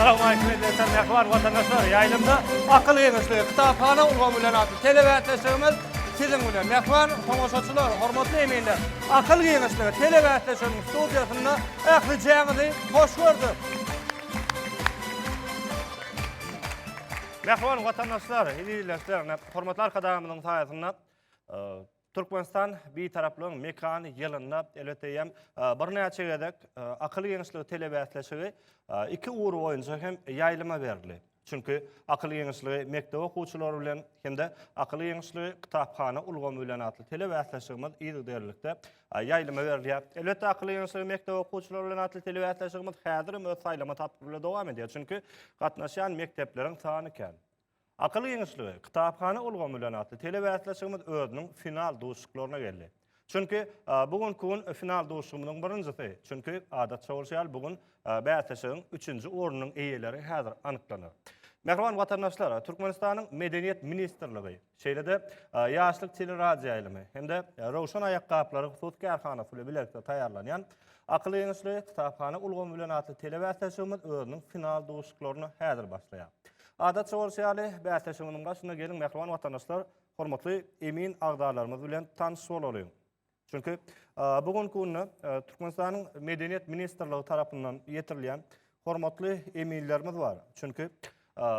Assalamualeykum eziz mehriban watandaşlar. Ýaýlymda akyl geňeşligi kitaphana ulgamy bilen atly telebäsleşigimiz siziň bilen. Mehriban tomaşaçylar, hormatly eminler. Akyl geňeşligi telebäsleşiginiň studiýasynda ähli jäňizi hoş gördük. Mähriban watandaşlar, ildeşler, hormatly Arkadagymyzyň saýasynda Türkmenistan Bitaraplygyň mekany ýylynda, elbetde eýýäm birnäçe gezek akyl giňişligi telebäsleşigi iki ugur boýunça hem ýaýlyma berildi. Çünki akyl giňişligi mekdep okuwçylary bilen hem-de akyl giňişligi kitaphana ulgamy bilen atly telebäsleşigimiz yzygiderlilikde ýaýlyma berilýär. Elbetde, Akylyň ýeňşligi mekdep okuwçylary bilen atly telebäsleşigimiz häzirem öz saýlama tapgyry bilen dowam edýär, çünki gatnaşýan mekdepleriň sany kän. Akylyň ýeňşligi, kitaphana ulgamy bilen atly telebäsleşigimiz özüniň final duşuşyklaryna geldi. Çünki, bu günki gün final duşuşygymyzyň birinjisi, çünki, adatça bolşy ýaly, bu gün bäsleşigiň üçünji ornunyň eýeleri häzir anyklanar. Mähriban watandaşlar, Türkmenistanyň Medeniýet ministrligi, Şeýle-de, Ýaşlyk teleradioýaýlymy hem-de Röwşen aýakgaplary hususy kärhanasy bilen bilelikde taýýarlanýan Akyl ýeňişli, kitaphana ulgamy bilen atly telebäsleşigimiz özüniň final duşuşyklaryna häzir başlaýar. Adatça bolşy ýaly, bäsleşigimiziň başynda geliň, mähriban watandaşlar, hormatly emin agzalarymyz bilen tanyş bolalyň. Çünki bu günki günde Türkmenistanyň Medeniýet ministrligi tarapyndan ýetirilýän hormatly eminlerimiz bar. Çünki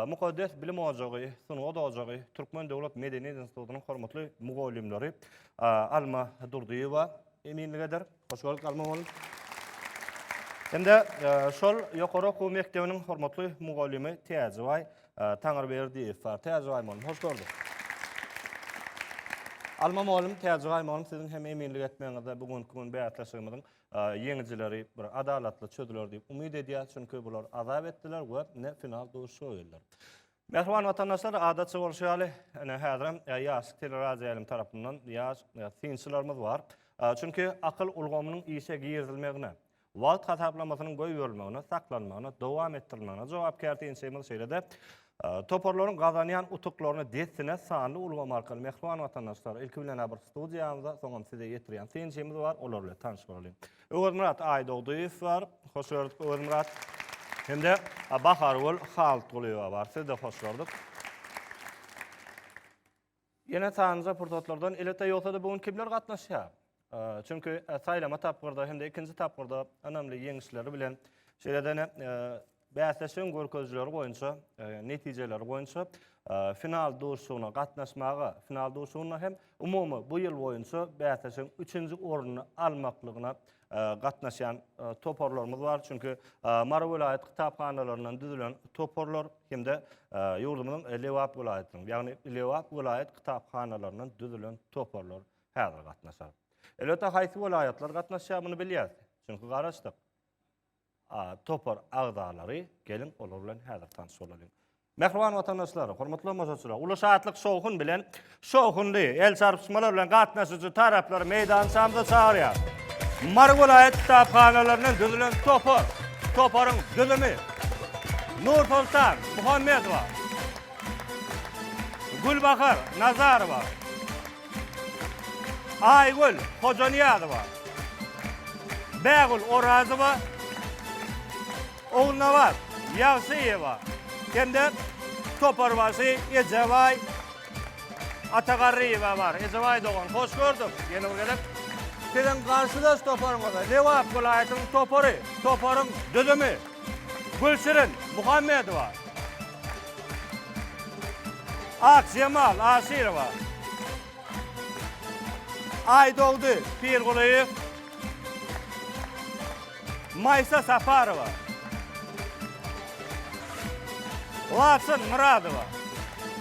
Mukaddes bilim ojagy, Sungat ojagy, Türkmen döwlet medeniýet institutynyň hormatly mugallymlary Alma Durdyýewa eminlik eder. Hoş geldik Alma mugallym. Hem-de şol ýokary okuw mekdebiniň hormatly mugallymy Täjibaý Taňryberdiýew bar. Täji Gaýmolym, hoş gördük. Alma mugallym, Täji Gaýmolym, siziň hem eminlik etmegiňizde bu günki gün bäsleşigimiziň ýeňijileri bir adalatly çözüler diýip umyt edýäs, çünki bular azap etdiler we ine final duşuşyga geldiler. Mähriban watandaşlar, adatça bolşy ýaly, ine häzirem ýaş teleradioýaýlym tarapyndan ýaş synçylarymyz bar. Çünki akyl ulgamynyň işe girizilmegine, Wagt hasaplamasynyň goýberilmegine, saklanmagyna, dowam etdirilmegine jogapkär synçymyz, şeýle-de toparlaryň gazanýan utuklaryna dessine sanly ulgam arkaly mähriban watandaşlar, ilki bilen-ä bir studiýamyza, soňam size ýetirýän synçymyz bar, olar bilen tanyş bolalyň. Öwezmyrat Aýdogdyýew bar, hoş gördük Öwezmyrat. Hem-de Bahargül Haltgulyýewa bar, sizi-de hoş gördük. Ýene sanjy pursatlardan elbetde ýogsa-da bu gün kimler gatnaşýar? Çünki saýlama tapgyrda hem-de ikinji tapgyrda ynamly ýeňişleri bilen şeýle-de bäsleşigiň görkezijileri boýunça, netijeleri boýunça final duşuşygyna gatnaşmaga, final duşuşygynda hem umumy bu ýyl boýunça bäsleşigiň üçünji ornuny almaklygyna gatnaşýan toparlarymyz bar. Çünki Mary welaýat kitaphanalaryndan düzülen toparlar hem-de ýurdumyzyň Lebap welaýatynyň, ýagny Lebap welaýat kitaphanalaryndan düzülen toparlar häzir gatnaşar. Elbetde, haýsy welaýatlar gatnaşýar, muny bilýäris. Çünki garaşdyk. topar agzalary, geliň olar bilen häzir tanyş bolalyň. Mähriban watandaşlar, hormatly tomaşaçylar, uly şatlyk şowhun bilen şowhunly el çarpyşmalar bilen gatnaşyjy taraplary meýdançamyza çagyrýar. Mary welaýat kitaphanalaryndan düzülen topar, toparyň düzümi Nursoltan Muhammedowa, Gülbahar Nazarowa, Aýgül Hojanyýazowa, Bägül Orazowa, Ogulnabat Ýagşyýewa hem-de Toparbaşy Ejebaý Atagarryýewa bar. Ejebaý dogan, hoş gördük! Ýene bir gezek Siziň garşydaş toparyňyza Lebap welaýatynyň topary, toparyň düzümi. Gülşirin Muhammedowa. Akjemal Aşyrowa. Aýdogdy Pirgulyýew. Maýsa Saparowa. Laçyn Myradowa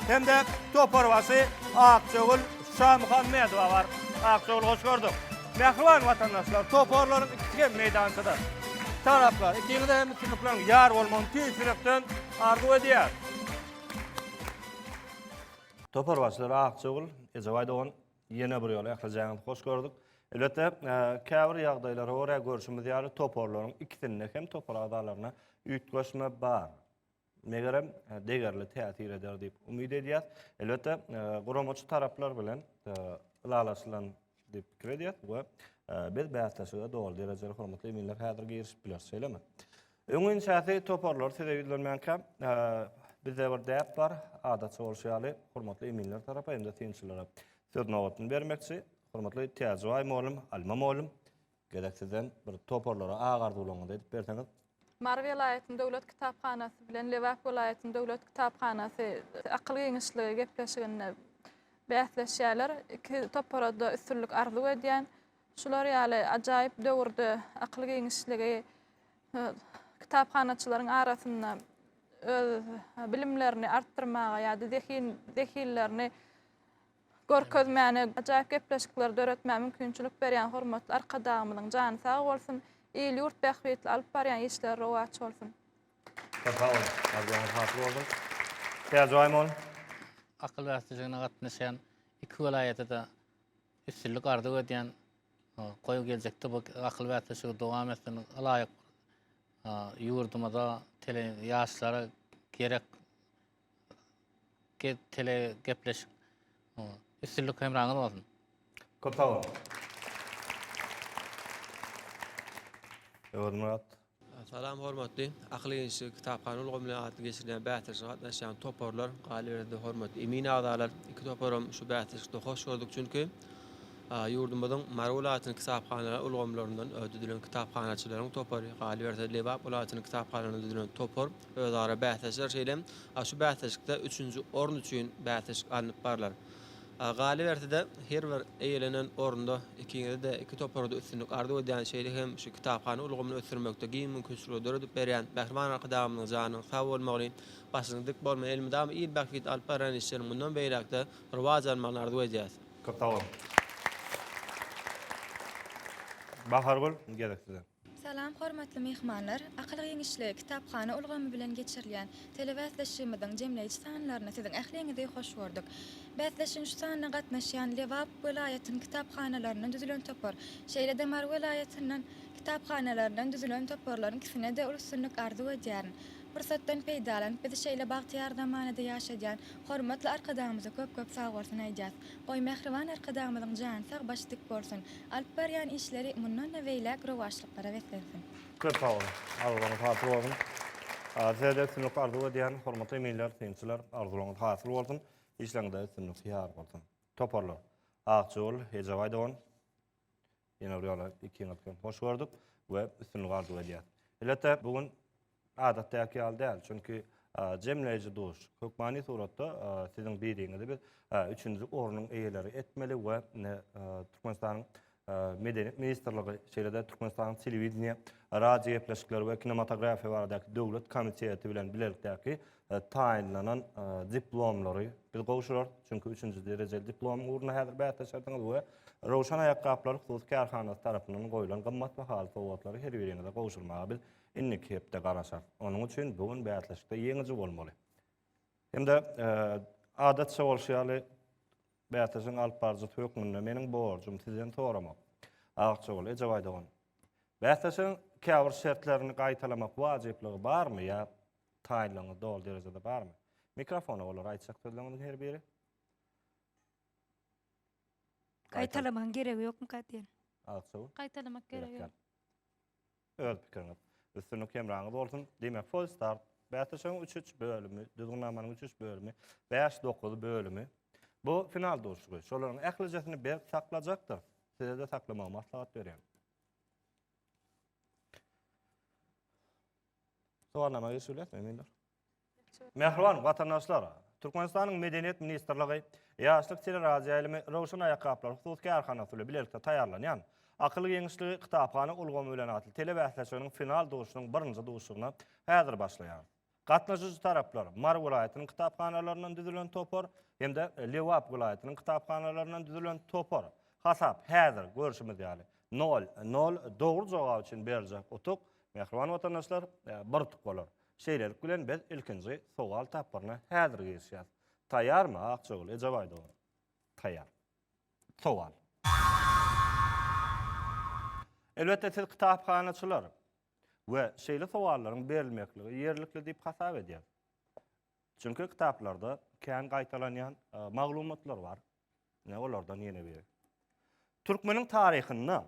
hem-de toparbaşy Akjagül Şamuhammedowa bar. Aksögül hoş gördük. Mähriban watandaşlar, toparlaryň ikisi hem meýdançada. Taraplar, ikiňize hem üstünlikleriň ýar bolmagyny tüýs ýürekden arzuw edýäris. Topar başlygy Aksögül, Ejebaý dogan, ýene bir ýola ählijaňyzy hoş gördük. Elbetde, käbir ýagdaýlara görä, görşümiz ýaly, toparlaryň ikisinde hem topar agzalaryna üýtgeşme bar. megerem, degerli täsir eder diýip umyt edýäs. Elbetde, guramaçy taraplar bilen ylalaşylan diýip pikir edýäs we biz bäsleşige doly derejeli hormatly eminler häzir girişip bileris, şeýlemi? Öňüň şähdi toparlar size ýüzlenmänkä, bizde bir däp bar, adatça bolşy ýaly, hormatly eminler tarapa hem-de synçylara söz nobatyny bermekçi. Hormatly Täjibay mugallym, Alma mugallym, Gezek sizden bir toparlara ak arzuwlaryňyzy aýdyp berseňiz. Mary welaýatynyň döwlet kitaphanasy bilen Lebap welaýatynyň döwlet kitaphanasy akyl giňişligi gepleşiginde bäsleşýärler. Iki topara-da üstünlik arzuw edýän. Şular ýaly ajaýyp döwürde akyl giňişligi kitaphanaçylaryň arasynda öz bilimlerini artdyrmaga ýa-da zehin zehinlerini Görkezmäni, ajaýyp gepleşikleri döretmäge mümkinçilik berýän hormatly Arkadagymyzyň jany sag bolsun, il-ýurt bähbitli alyp barýan işleri rowaç bolsun! Köp sag boluň! Arzuwyňyz hasyl bolsun! Täjigay mol! Akyl bäsleşigine gatnaşýan iki welaýata-da üstünlik arzuw edýän. Goý, geljekde bu akyl bäsleşigi dowam etsin. Ylaýyk ýurdumyza, tele ýaşlara gerek tele gepleşik. Üstünlik hemraňyz bolsun. Köp sag boluň. Öwezmyrat. Salam hormatly Akyl gençligi kitaphana ulgamy bilen atly geçirilýän bäsleşige gatnaşýan toparlar, galyberse-de hormatly emin agzalar. Iki toparam şu bäsleşikde hoş gördük, çünki Ýurdumyzyň Mary welaýatynyň kitaphanalar ulgamlaryndan düzülen kitaphanaçylaryň topary, galyberse, Lebap welaýatynyň kitaphanalaryndan düzülen topar özara bäsleşdiler, şeýle hem şu bäsleşikde üçünji orun üçin bäsleşik alnyp barlar. Galyberse-de, her bir eýlenen orunda ikiňize-de, iki topara-da üstünlik arzuw edýän, şeýle hem şu kitaphana ulgamyny ösdürmekde giň mümkinçilikleri döredip berýän Mähriban Arkadagymyzyň janynyň sag bolmagyny, başynyň dik bolmagyny, elmydama il bähbidine alyp barýan işleriniň mundan beýläk-de rowaç almagyny arzuw edýäris. Köp sag boluň. Bahargül, gezek size. Salam, hormatly myhmanlar! Akyl giňişligi kitaphana ulgamy bilen geçirilýän telebäsleşigimiziň jemleýji sanlaryna siziň ähliňizi hoş gördük. Bäsleşigiň şu sanyna gatnaşýan Lebap welaýatynyň kitaphanalaryndan düzülen topar, şeýle-de Mary welaýatynyň kitaphanalaryndan düzülen toparlaryň ikisine-de uly üstünlik arzuw edýärin. Pursatdan peýdalanyp bizi şeýle bagtyýar zamanada ýaşadýan hormatly Arkadagymyza köp-köp sagbolsun aýdýas. Goý mähriban Arkadagymyzyň jany sag başy dik bolsun, alyp barýan işleri mundan-da beýläk rowaçlyklara beslensin. Köp sag boluň. Arzuwlaryňyz hasyl bolsun. Size-de üstünlik arzuw edýän hormatly eminler, synçylar. Arzuwlaryňyz hasyl bolsun. Işleriňizde üstünlik ýar bolsun. Toparlar. Akjigul, Ejebaý dogan. Ýene bir ýola ikiňizi hem hoş gördük we üstünlik arzuw edýäs. Elbetde bu gün adatdaky ýaly däl, çünki jemleýji duş, hökmany suratda siziň biriňizi biz üçünji ornuň eýeleri etmeli we Türkmenistanyň Medeniýet ministrligi, şeýle-de Türkmenistanyň Telewideniýe, radiogepleşikler we kinematografiýa baradaky döwlet komiteti bilen bilelikdäki e, taýynlanan e, diplomlary biz gowşurarys. Çünki üçünji derejeli diplom ugruna häzir bäsleşerdiňiz we Rowşan aýakgaplary hususy kärhanasy tarapyndan goýlan gymmat bahaly sowgatlary her biriňize gowşurmaga biz indiki hepde garaşarys. Onuň üçin bu gün bäsleşikde ýeňiji bolmaly. Hem-de e, adatça bolşy ýaly bäsleşigiň alyp baryjysy hökmünde meniň borjum sizden soramak. Agçagul Ejebaý dogan. Bäsleşigiň käbir şertlerini gaýtalamak wajyplygy barmy ýa Taýynlygyňyz doly derejede barmy? Mikrofona olara aýtjak sözleriňiziň her biri. Gaýtalamagyň geregi ýokmy ka diýen. Agtygy. Gaýtalamak gerek Berekella. ýok. Öz pikiriňiz. Üstünlik hemraňyz bolsun. Diýmek, Full Start bäsleşigiň üç-üç bölümi, düzgünnamanyň üç-üç bölümi, bäş-dokuz bölümi. Bu final duşuşygy. Şolaryň ählijesini berk saklajakdyr. Size-de saklamagy maslahat berýän. Sowalnama geçip bilerismi, Mündür? Mähriban watandaşlar, Türkmenistanyň Medeniýet ministrligi Ýaşlyk teleradioýaýlymy Röwşen aýakgaplary hususy kärhanasy bilen bilelikde taýýarlanýan Akyl geňişligi kitaphana ulgamy bilen atly telebäsleşiginiň final duşunyň birinji duşugyna häzir başlaýar. Gatnaşyjy taraplar Mary welaýatynyň kitaphanalaryndan düzülen topar hem-de Lebap welaýatynyň kitaphanalaryndan düzülen topar. Hasap häzir görşümiz ýaly, nol, nol, dogry jogap üçin beriljek utuk Mähriban watandaşlar, bir utuk bolar. Şeýlelik bilen biz ilkinji sowal tapgyryna häzir girişýäs. Taýýarmy, Akjagül, Ejebaý dogan? Taýýar. Sowal. Elbetde siz kitaphanaçylar we şeýle sowallaryň berilmekligi ýerlikli diýip hasap edýäs. Çünki kitaplarda kän gaýtalanýan maglumatlar bar. Ine olardan ýene biri. Türkmeniň taryhynda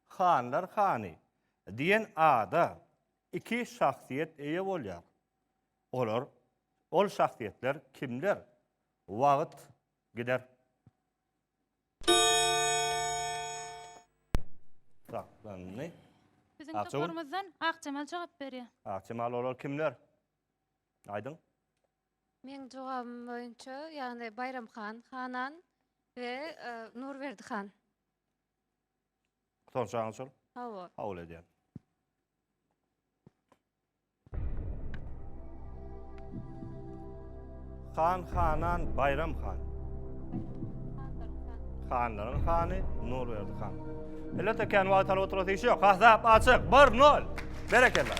Hanlar hany diýen ada iki şahsyýet eýe bolýar. Olar, ol şahsyýetler kimler? Wagt gider. Saklandy. Biziň Akjagül. toparymyzdan Akjemal jogap berýär. Akjemal olar kimler? Aýdyň. Meň jogabym boýunça ýagny Baýram han, Hanan we Nurberdi han. Sorajagyňyz şol? Hawa. Kabul edýän. Han, Hanan, Baýram han. Hanlaryň hany Nurberdi han. Millet ekän wagt alyp oturasy iş yok. Hasap açyk. 1-0. Berekella.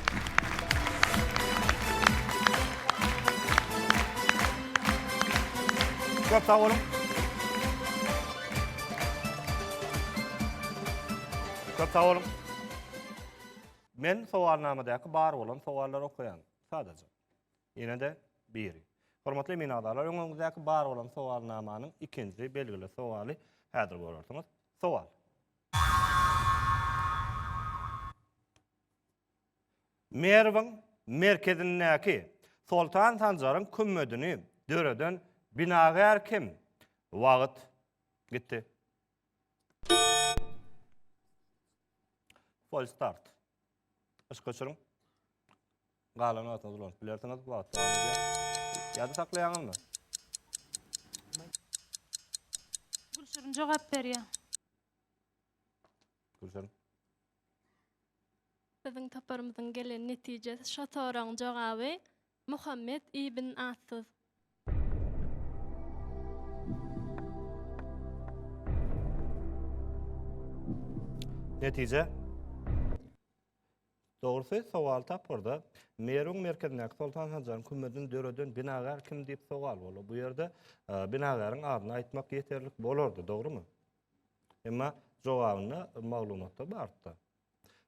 Köp sag bolun. Köp sag bolun. Men sowalnamadaky bar bolan sowallary okaýan. Sadaja. Ýene-de biri. Hormatly emin agzalar, öňüňizdäki bar bolan sowalnamanyň ikinji belgili sowaly häzir görersiňiz. Sowal. Merwiň merkezindäki Soltan Sanjaryň kümmedini döreden binagär kim? Wagt gitdi. False start. Yş geçiriň. Galan wagtyňyz ulanyp bilersiňiz. Wagt dowam edýär. Ýada saklaýaňyzmy? Gülşirin jogap berýär. Gülşirin. Biziň toparymyzyň gelen netijesi şo soragyň jogaby Muhammet ibn Atsyz. Netije. Dogrusy, sowal tapgyrda Merwiň merkezindäki Soltan Sanjaryň kümedini döreden binagär kim diýip sowal boldy. Bu ýerde binagäriň adyny aýtmak ýeterlik bolardy, dogrumy? Emma jogabynda maglumatda bardy-da.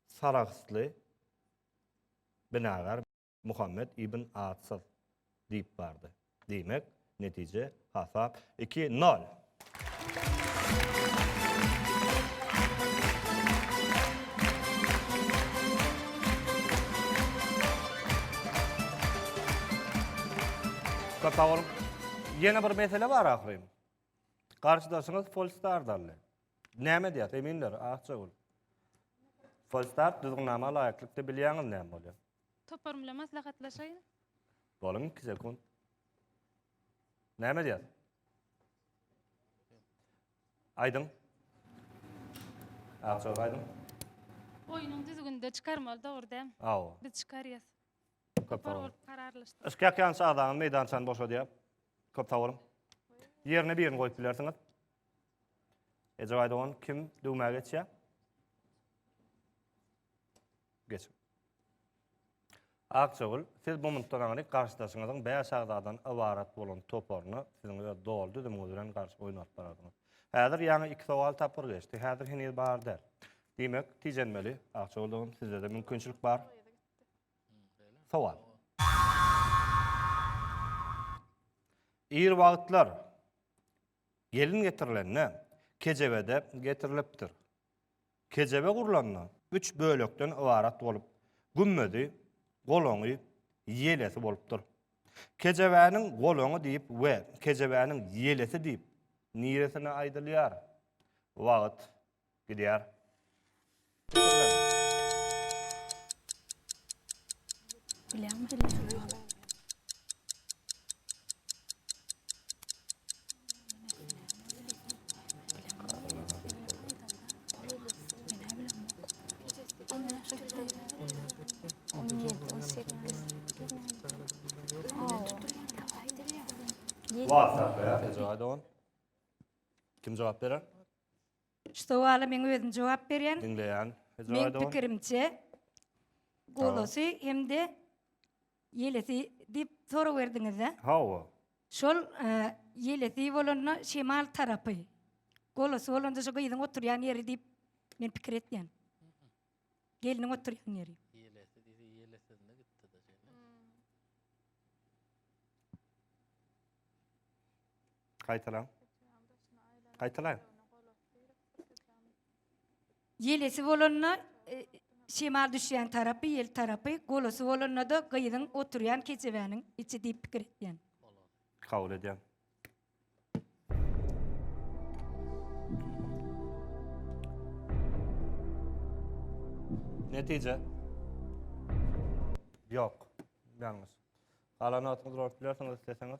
Sarahsly binagär. Muhammet ibn Atsyz diýip bardy. Diýmek, netije hasap 2-0. Köp sag boluň. Ýene bir mesele bar ahyryn. Garşydaşyňyz Polstar dally. Näme diýýär? Eminler, Akjagül. Polstar düzgünnama laýyklykda bilýäňiz näme bolýar? Toparyň bilen maslahatlaşaýyn. Bolan iki sekunt. Näme edýär? Aýdyň. Akjagaz aýdyň. Oýnuň düzgünde çykarmaly dogry däm. Aw. Biz çykarýas. Köp sag boluň. Kararlaşdyk. Yşkak ýançy agzaňyz meýdançany boşadýar. Köp sag boluň. Ýerine birini goýup bilersiňiz. Ejebaý dogan kim döwmä geçýär? Geçiň. Akjagül, siz bu munddan aňryk garşydaşyňyzyň bäş agzadan ybarat bolan toparyna siziň öz doly düzümiňiz bilen garşy oýnap barardyňyz. Häzir ýaňy iki sowal tapgyr geçdi. Häzir heniz bar däl. Diýmek, tijenmeli. Akjagül dogan, sizde-de mümkinçilik bar. Sowal. Ir wagtlar gelin getirilende kejebede getirilipdir. Kejebe gurlanda, üç bölekden ybarat bolup, gümmezi, golaňy, ýelesi bolupdyr. Kejebäniň golaňy diýip we kejebäniň ýelesi diýip niresine aýdylýar? Wagt gidýär. WhatsApp ya. Tejade on. Kim cevap beren? Şu sowala men özüm jogap berýän. Dinleyen. Men Tejade on. pikirimçe golasy hem-de Ýelesi diýip sorawerdiňiz-ä? Hawa. Şol ýelesi bolanda şemal tarapy, golasy bolanda şu gyzyň oturýan ýeri diýip men pikir etýän. Gelniň oturýan ýeri. Ýelesi diýse ýelesinde gitdi-de şeýle. Gaýtalaň. Gaýtalaň. Ýelesi bolanda, şemal düşýän tarapy, ýel tarapy, golasy bolanda-da gyzyň oturýan kejebäniň içi diýip pikir etýän. Kabul edýän. Netije. Ýok. Ýalňyş. Galan wagtyňyzy urup bilersiňiz isleseňiz.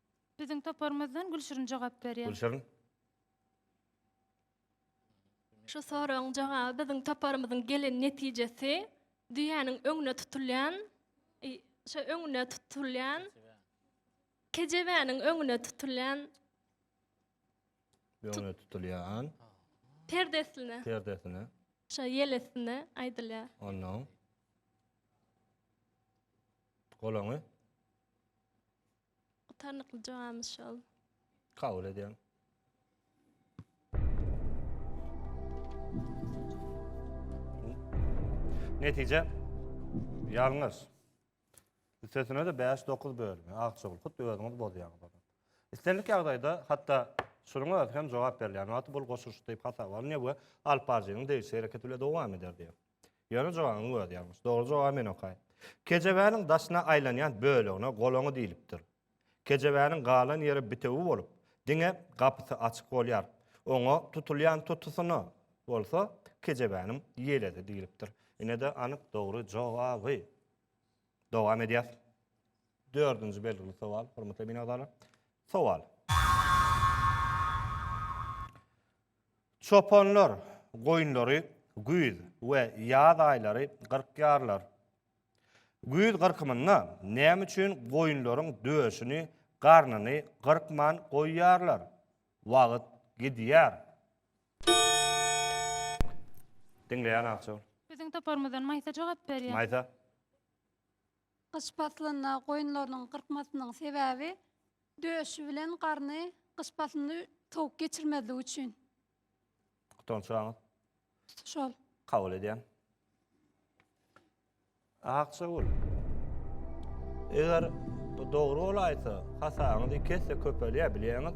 Biziň toparymyzdan Gülşirin jogap berýär. Gülşirin. Şu soragyň jogaby biziň toparymyzyň gelen netijesi düýäniň öňüne tutulýan i şo öňüne tutulýan kejebäniň öňüne tutulýan Öňüne tutulýan perdesine perdesine. şo ýelesine aýdylýar. Onnoň. Golaňy. Gutarnykly jogabymyz şol. Kabul edýän. Netije ýalňyş. Üstesine de 5-9 bölümi. Agçogul, hut özüňiz bozýan. İstenlik ýagdaýda hatda şunuň özi hem jogap berilýän wagty bul goşulyşy diýip hasaba alynýar we alyp baryjynyň degişli hereketi bile dowam eder diýýär. Ýöne jogabyň özi ýalňyş. Dogry jogaby men okaýyn. Kejebäniň daşyna aýlanýan bölegine golaňy diýlipdir. Kejebäniň galan ýeri bitewi bolup, diňe gapysy açyk bolýar. Oňa tutulýan tutusyna bolsa kejebäniň ýeledi diýlipdir. Ine-de anyk dogry jogaby. Dowam edýäs. Dördünji belgili sowal, hormatly emin agzalar. Sowal. Çopanlar goýunlary güýz we ýaz aýlary gyrkýarlar. Güýz gyrkymynda näme üçin goýunlaryň döşüni, garnyny gyrkman goýýarlar? Wagt gidýär. Diňleýän Akja ol. Biziň toparymyzdan Maýsa jogap berýär. Maýsa. Gyş paslynda goýunlarynyň gyrkmasynyň sebäbi Döşi bilen garny gyş paslynda sowuk geçirmezligi üçin. Gutan suragyňyz? Şol. Kabul edýän. Aksagül. Eger bu dogry bolaýsa, hasabyňyz iki esse köpelýär, bilýäňiz.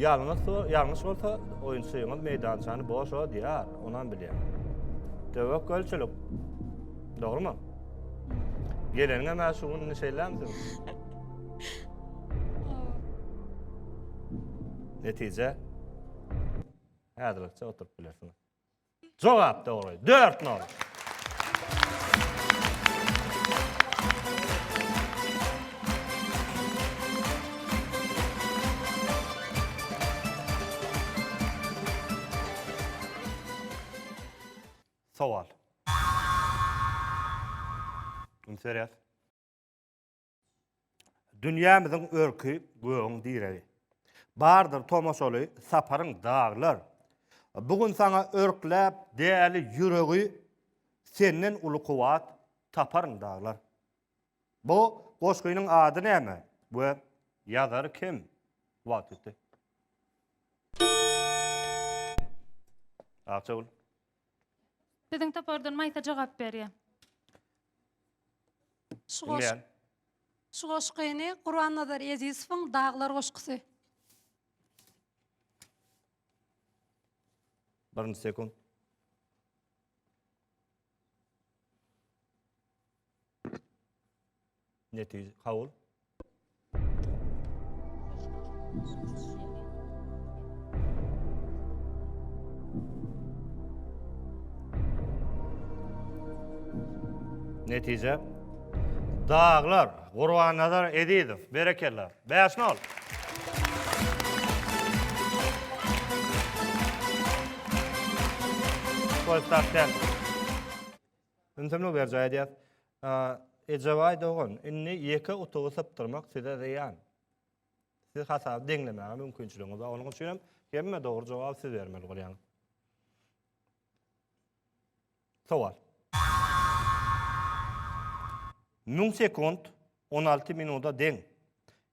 Ýalňyş, ýalňyş bolsa, oýunçyňyz meýdançany boş odýar, onam bilýän. Töwekgelçilik. Dogrumy? Geleniňe mä şu gününi şeýlämdi? Netije? Häzirlikçe oturup bilersiň. Jogap dogry. 4 nol. Sowal. Üns berýäs. Dünýämiziň örki gögüň diregi. Bardyr tomaşaly saparyň daglar. Bu gün saňa örkläp däli ýüregi, Senden uly kuwwat taparyn daglar. Bu goşgynyň ady näme we ýazary kim? Wagt ýetdi. Akjagül. Biziň topardan Maýsa jogap berýär. Şu goş- Bilýän. Şu goşgyny Gurbannazar Ezizowyň Daglar goşgusy. Birinji sekunt. Netije kabul. Netije. Daglar, Gurban Nazar Ezizow, berekella. 5 nol. Koy tak Ünsemini berjaý edýäs. Ejebaý dogan, indi ýeke otagy sypdyrmak size zyýan. Siz hasaby deňlemäge mümkinçiligiňiz bar. Onuň üçinem hemme dogry jogaby siz bermeli bolýaňyz. Sowal. Müň sekunt on alty minuda deň.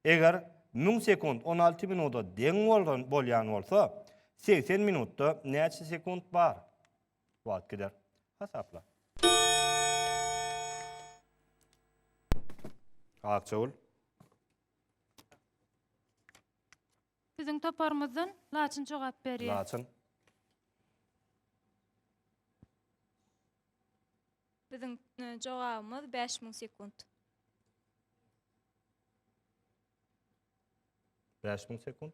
Eger müň sekunt on alty minuda deň bolýan bolsa, segsen minutda näçe sekunt bar? Wagt gider. Hasapla. Akjagul. Biziň toparymyzdan Laçyn jogap berýär. Laçyn. Biziň e, jogabymyz 5000 sekunt. 5000 sekunt.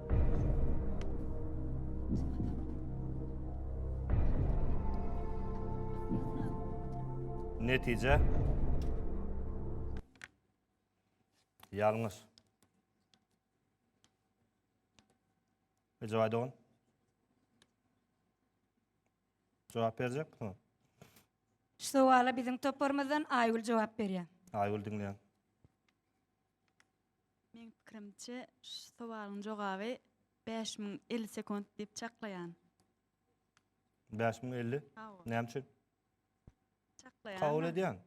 Netije Ýalňyş. Ejawady on. Jogap berjek mi? Şu sowala biziň toparymyzdan Aýgül jogap berýär. Aýgül diňleýän. Meň pikirimçe şu sowalyň jogaby bäş müň elli sekunt diýip çaklaýan. Bäş müň elli? Hawa. Näme üçin? Çaklaýan. Kabul edýän.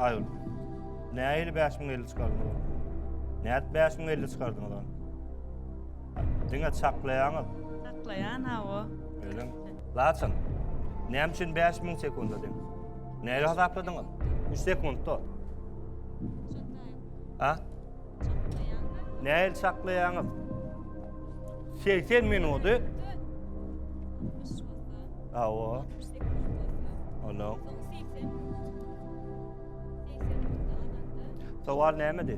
Aýol. Näili bäş müň elli çykardyň? Näet bäş müň elli çykardyň odan? Diňe çaklaýaňyz. Çaklaýan hawa. Öýlen. Laçyn, näme üçin bäş müň sekunda deň? Näge hasapladyňyz? Üç sekundda. A? Näil çaklaýaňyz? Segsen minudy? Awa. Ono. Sowal nämedi?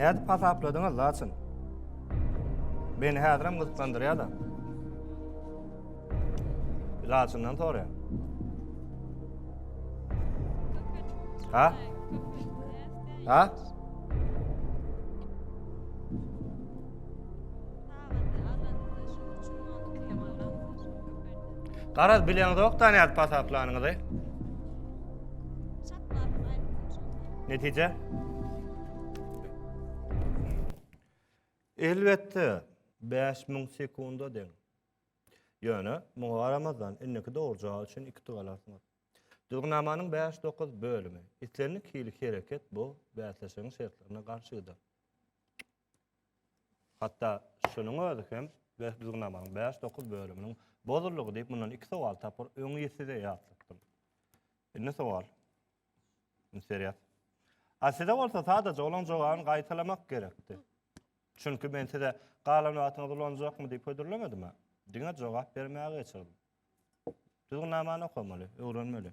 Nädip hasapladyňyz laçyn? Meni häzirem gyzyklandyrýar-da. Laçyndan soraýan. Ha? Ha? Garaz bileňizokda nädip pasaplanyňyzy. Netije? Elbetde 5000 sekunda deň. Ýöne muňa garamazdan indiki dogurjagy üçin 2 tug alarsyňyz. Düzgünamanyň 5-9 bölümi. Islendik hili hereket bu bäsleşigiň şertlerine garşydyr. Hatda şunuň özi hem beh düzgünamanyň bäş dokuz bölüminiň bozuldygy diýip mundan iki sowal tapyr öň ýe size ýatlatdym. Indi sowal. Indi serýas. A size bolsa sadaja olaň jogabyny gaýtalamak gerekdi. Çünki men size galan wagtyňyz ulanjakmy diýip hödürlemedim a. Diňe jogap bermäge geçirdim. Düzgünamany okamaly, öwrenmeli.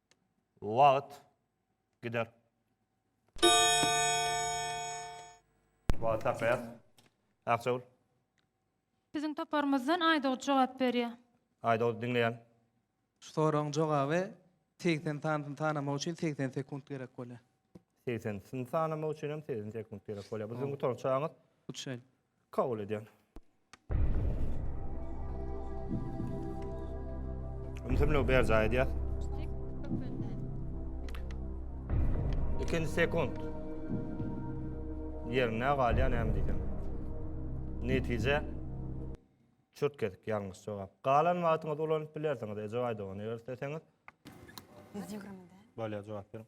Wagt gider. Wagt saklaýas. Akjagul. Biziň toparymyzdan Aýdogdy jogap berýär. Aýdogdy diňleýän. Şu soragyň jogaby segsen sanysyny sanamak üçin segsen sekunt gerek bolýar. Segsen sanysyny sanamak üçin hem segsen sekunt gerek bolýar. Bu siziň gutarykçaňyz. Hut şeýle. Kabul edýän. Ümsümligi berjaý edýär. Ikinci sekund. Yerine galýan hem diýdim. Netije çürt kesip ýalňyş jogap. Galan wagtyňyzy ulanyp bilersiňiz. Eje aýdygan eger isteseňiz. Bolýar jogap beriň.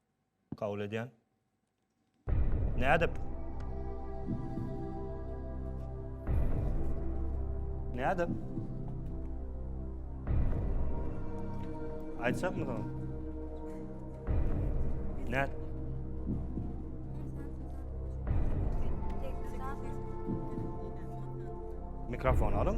Kabul edýän. Nädip? Nädip? Aýtsak mı tamam? Nä? Mikrofon alın.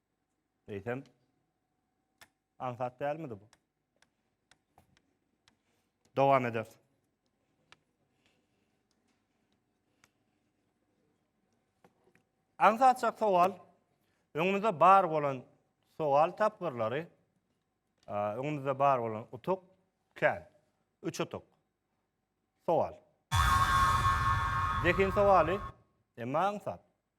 Eýsem, aňsat dälmidi bu? Dowam ederis. Aňsatjak sowal, öňümizde bar bolan sowal tapgyrlary, öňümizde bar bolan utuk, kän, üç utuk. Sowal. Zehin sowaly, emma aňsat.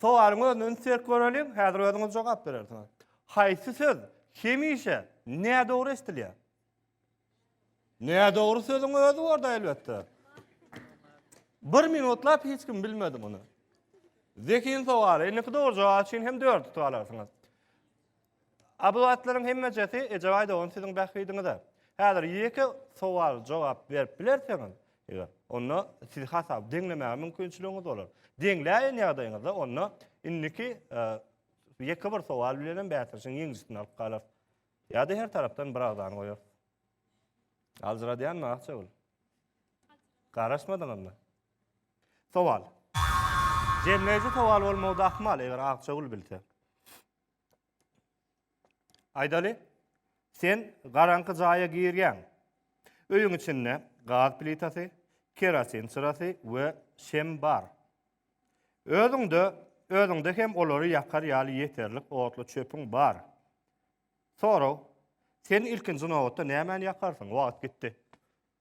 Sowalyň özüne üns berip göreliň, häzir özüňiz jogap berersiňiz. Haýsy söz hemişe nädogry eşidilýär? Nädogry sözüň özi bor-da elbetde. Bir minutlap hiç kim bilmedi muny. Zehin sowaly. Indiki dogry jogap üçin hem dört utup alarsyňyz. A bu zatlaryň hemmejesi Ejebaý dogan siziň bähbidiňize. Häzir ýeke sowal jogap berip bilerseňiz, eger, onda siz hasaby deňlemäge mümkinçiligiňiz bolar. Deňläýen ýagdaýyňyzda onda indiki ýeke bir sowal bilenem bäsdeşiň ýeňijisini alyp galar. Ýa-da her tarapdan bir agzany goýar. Aljyradýanmy Akjagül? Garaşmadyňyzmy? Sowal. Jemleýji sowal bolmagy-da ahmal, eger Akjagül bilse. Aýdaly, sen garaňky jaýa girýäň. Öýüň içinde gaz plitasy, kerosin çyrasy we şem bar. Özüňde, özüňde hem olary ýakar ýaly ýeterlik otly çöpüň bar. Sorag, Sen ilkinji nobatda nämäni ýakarsyň? Wagt gitdi.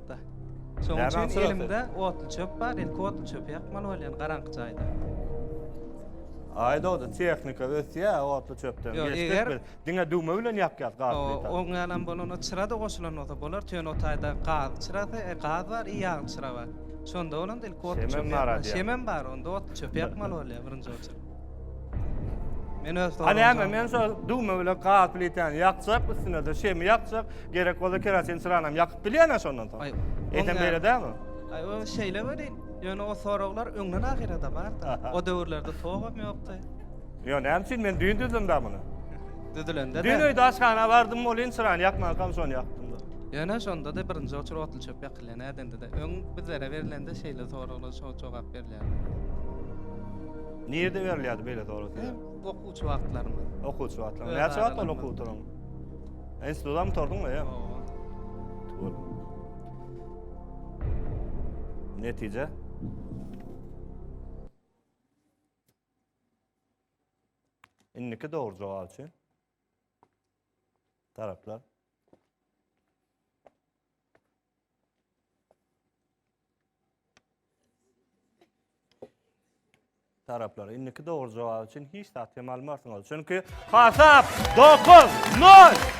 ýakmakda. Şonuň üçin elimde otly çöp bar, ilki otly çöpi ýakmaly bolýan garaňky jaýda. Aý dogdy, tehnika ösýä, otly çöpden geçdik biz. Diňe düwme bilen ýakýas gaz plitany. Oň ýalam bolanda çyra-da goşulan bolsa bolar, töen o taýda gaz çyrasy, gaz bar i ýagly çyra bar. Şonda bolanda ilki otly çöpi ýakmaly. Şemem bar, onda otly çöpi ýakmaly bolýa birinji oçurt. Men öz Ha näme, men şol düwme bilen gaz plitany ýakjak, üstüne-de şemi ýakjak, gerek bolsa kerosin çyranam ýakyp bilýän-ä şondan soň. Aý, Eýsem beýle dälmi? Aý, o şeýle welin, ýöne o soraglar öňden ahyrada bardy. O döwürlerde togam ýokdy. Ýöne näme üçin men düýn düzdüm da muny? Düzülende-de. Düýn öýde aşhana bardym welin, çyrany ýakmankam şony ýakdym-da. Ýöne şonda-da birinji oçur otly çöp ýak. şekilde nädendir-de. Öň bizlere berilende şeýle soraglar şo jogap berilýärdi. Nirde berilýärdi beýle sorag size? Okuwçy wagtlarymda. Okuwçy wagtlarymda. Näçe wagt bol okuw oturyň? Institutda mı torduň ya? Tuwul. Netice? Indiki doğru cevap için. taraplar taraplar. Indiki dogry jogap üçin hiç zat hem almarsyňyz. Çünki hasap 9 0.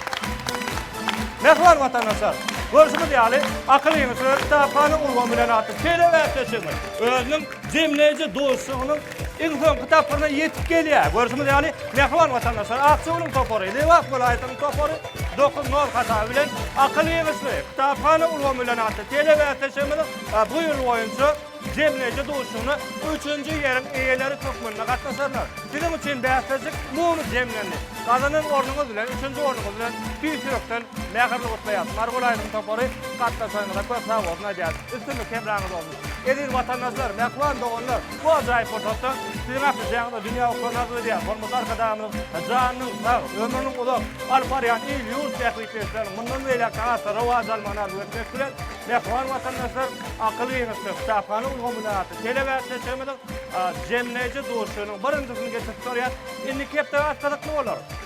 Mehriban watandaşlar, görüşümiz ýaly akyl ýeňişleri kitapany ulgam bilen atyp, şeýle bäsleşigiň özüniň jemleýji dostlugynyň Iň soňky tapgyryna ýetip gelýär. Görşümiz ýaly, mähriban watandaşlar, Akjagüliň topary, Lebap welaýatynyň topary dokuz nol hasaby bilen Akyl ýygyşly, kitaphana ulgamy bilen atly telebäsleşigimiziň bu ýyl boýunça jemleýji duşuşygyna üçünji ýeriň eýeleri hökmünde gatnaşarlar. Siziň üçin bäsleşik muny jemlendi. Gazanan ornuňyz bilen, üçünji ornuňyz bilen tüýs ýürekden mähirli gutlaýarys. Mary welaýatynyň topary, gatnaşanyňyza köp sag bolsun aýdýarys. Üstünlik hemraňyz bolsun! Eziz watandaşlar, mähriban doganlar! Bu ajaýyp pursatda siziň ählisiňize dünýä okuwyny arzuw edýärin. Hormatly Arkadagymyzyň janynyň sag, ömrüniň uzak, alyp barýan il-ýurt bähbitli işleriniň mundan beýläk-de has-da rowaç almagyny arzuw etmek bilen, mähriban watandaşlar, Akyl giňişlik kitaphana ulgamy bilen atly telebäsleşigimiziň jemleýji duşuşygynyň birinjisini geçirip görýäris. Indiki hepdä has gyzykly bolar.